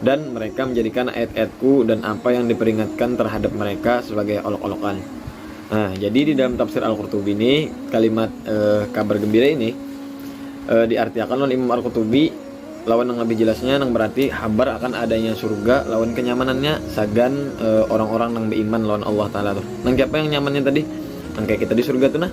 Dan mereka menjadikan ayat-ayat-Ku dan apa yang diperingatkan terhadap mereka sebagai olok-olokan. Nah, jadi di dalam tafsir Al-Qurtubi ini kalimat e, kabar gembira ini e, diartiakan oleh Imam Al-Qurtubi lawan yang lebih jelasnya yang berarti habar akan adanya surga lawan kenyamanannya sagan e, orang-orang yang beriman lawan Allah taala tuh. Nang siapa yang nyamannya tadi? Nang kayak kita di surga tuh nah.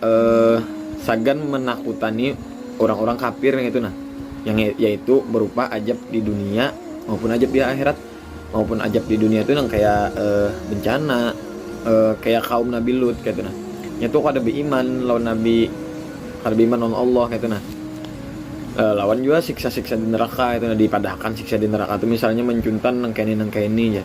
eh, sagan menakutani orang-orang kafir yang itu nah yang ya-, yaitu berupa ajab di dunia maupun ajab di akhirat maupun ajab di dunia itu yang kayak eh, bencana eh, kayak kaum Nabi Lut kayak itu nah itu kada beriman lawan Nabi kada beriman lawan Allah kayak itu nah eh, lawan juga siksa-siksa di neraka itu nah dipadahkan siksa di neraka itu misalnya mencuntan nang kayak ini nang kayak ini ya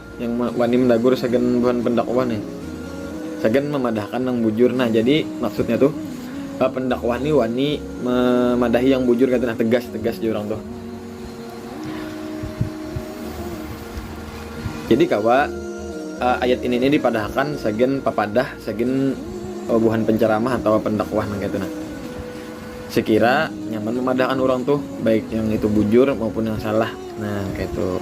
Yang wani mandagur sagan buhan pendakwah nih sagan mamadahkan nang bujur nah jadi maksudnya tuh pendakwah nih wani memadahi yang bujur kaitu nah tegas tegas jar urang tuh jadi kawa ayat ini nih dipadahakan sagan papadah sagan buhan penceramah atawa pendakwah nang kaitu nah sekira nyaman memadahakan urang tuh baik yang itu bujur maupun yang salah nah kaitu.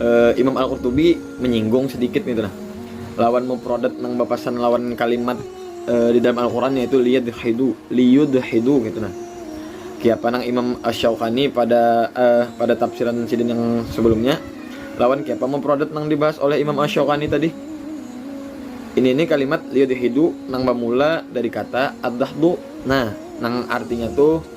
Uh, Imam Al-Qurtubi menyinggung sedikit gitu nah. Lawan mufradat nang bapasan lawan kalimat uh, di dalam Al-Qur'an yaitu liyadhidu, liyudhidu gitu nah. Kiapa nang Imam Asy-Syaukani pada uh, pada tafsiran sidin yang sebelumnya lawan kiapa mufradat nang dibahas oleh Imam Asy-Syaukani tadi. Ini ini kalimat liyudhidu nang bamula dari kata ad Nah, nang artinya tuh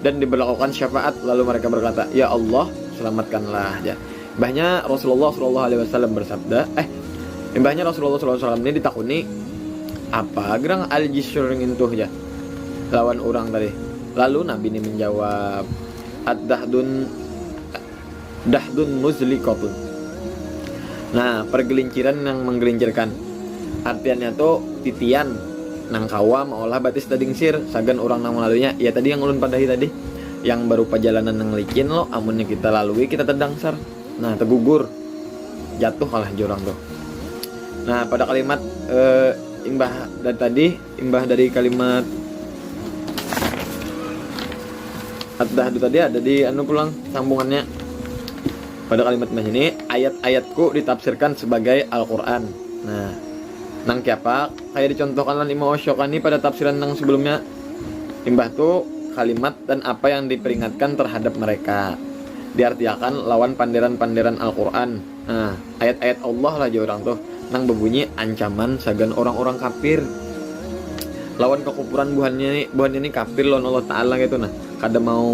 Dan diberlakuakan syafaat, lalu mereka berkata, Ya Allah, selamatkanlah, jar. Imbahnya Rasulullah sallallahu alaihi wasallam bersabda, eh, imbahnya Rasulullah sallallahu alaihi wasallam ini ditakuni, apa gerang al-jisr ngintuh, jar, lawan urang tadi. Lalu Nabi ini menjawab, Ad-dahdun Dahdun muzliqatun. Nah, pargelinciran nang manggelincirkan. Artiannya tu titian nang kawa maolah batis daging sir sagan urang nang malaluinya. Ya tadi yang ulun padahi tadi, yang barupa jalanan nang licin lo, amunnya kita lalui kita tadangsar. Nah, tagugur, jatuh lah jar urang tu. Nah, pada kalimat imbah dari tadi. Imbah dari kalimat At-Dahd itu tadi ada di anu pulang sambungannya. Pada kalimat imbah ini ayat-ayatku ditafsirkan sebagai Al-Qur'an. Nah, nang kiapa kayak dicontohkan lan Imam Asyokani pada tafsiran nang sebelumnya. Imbah tu kalimat dan apa yang diperingatkan terhadap mereka diartiakan lawan panderan-panderan Al-Qur'an. Nah, ayat-ayat Allah lah jar urang tuh, nang bebunyi ancaman sagan urang-urang kafir lawan kekufuran buhannya ni, buhannya ni kafir lawan Allah Ta'ala kaytu nah, kada mau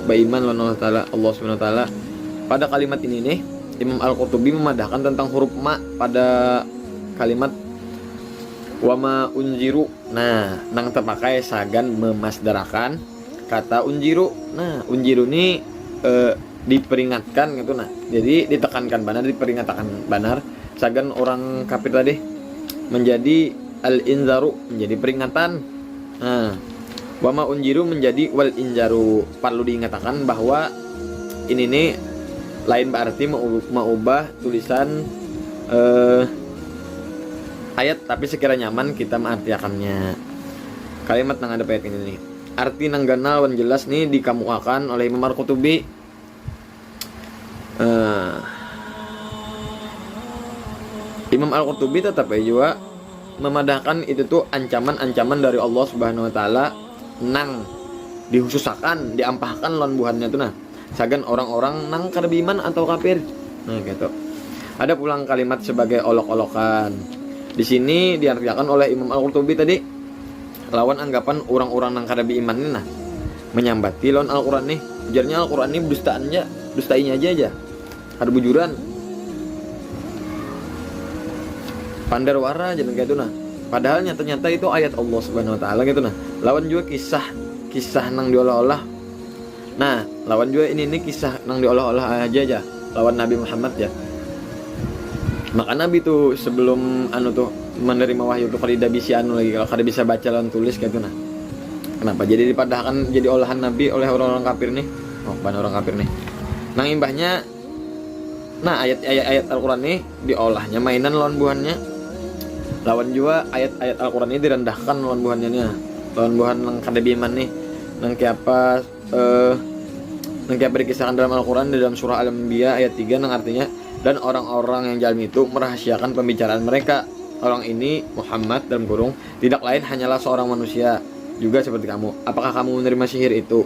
baiman lawan Allah Ta'ala, Allah Subhanahu Ta'ala. Pada kalimat ini nih, Imam Al-Qurtubi memadahkan tentang huruf ma pada kalimat wama unjiru. Nah, nang terpakai sagan memasdarakan kata unjiru. Nah, unjiru ni eh, diperingatkan gitu nah jadi ditekankan banar diperingatkan banar sagan orang kafir tadi menjadi al inzaru menjadi peringatan nah wama unjiru menjadi wal injaru perlu diingatakan bahwa ini nih lain berarti mengubah tulisan eh, ayat tapi sekira nyaman kita mengartiakannya kalimat nang ada ayat ini nih Arti nang ganal wan jelas ni dikamuakan oleh Imam Al-Qutubi, Imam Al-Qutubi tatap ai jua mamadahkan itu tu ancaman-ancaman dari Allah Subhanahu wa Ta'ala nang dihususakan, diampahkan lawan buhannya tu nah, sagan orang-orang nang kada beiman atau kafir. Nah, kaytu. Ada pulang kalimat sabagai olok-olokan. Di sini diartiakan oleh Imam Al-Qutubi tadi. Lawan anggapan urang-urang nang kada beiman ni nah, manyambati lawan Al-Quran nih, ujarnya Al-Quran nih bedustaan ja, dustainya ja ja, kada bujuran, pander wara jar nang kaya itu nah, padahal nyata-nyata itu ayat Allah Subhanahu Wa Taala ngitu nah, lawan jua kisah-kisah nang diolah-olah. Nah, lawan jua ini, ini kisah nang diolah-olah haja ja lawan Nabi Muhammad ja. Maka Nabi tu sebelum anu tu menerima wahyu tu kadida bisi anu lagi kalo, kada bisa baca lawan tulis kaytu nah. Kenapa jadi dipadahakan jadi olahan Nabi oleh urang-urang kafir nih, oh buhan urang kafir nih. Nang imbahnya. Nah, ayat-ayat Al-Qur'an ni diolahnya mainan lawan buhannya, lawan jua ayat-ayat Al-Qur'an ni direndahkan lawan buhannya nia, lawan buhan nang kada beiman nih, nang kayapa nang kayapa dikisahkan dalam Al-Qur'an di dalam surah Al-Anbiya ayat tiga nang artinya, Dan orang-orang yang jalim itu merahasiakan pembicaraan mereka, Orang ini, Muhammad, dalam kurung, tidak lain hanyalah seorang manusia, juga seperti kamu. Apakah kamu menerima sihir itu?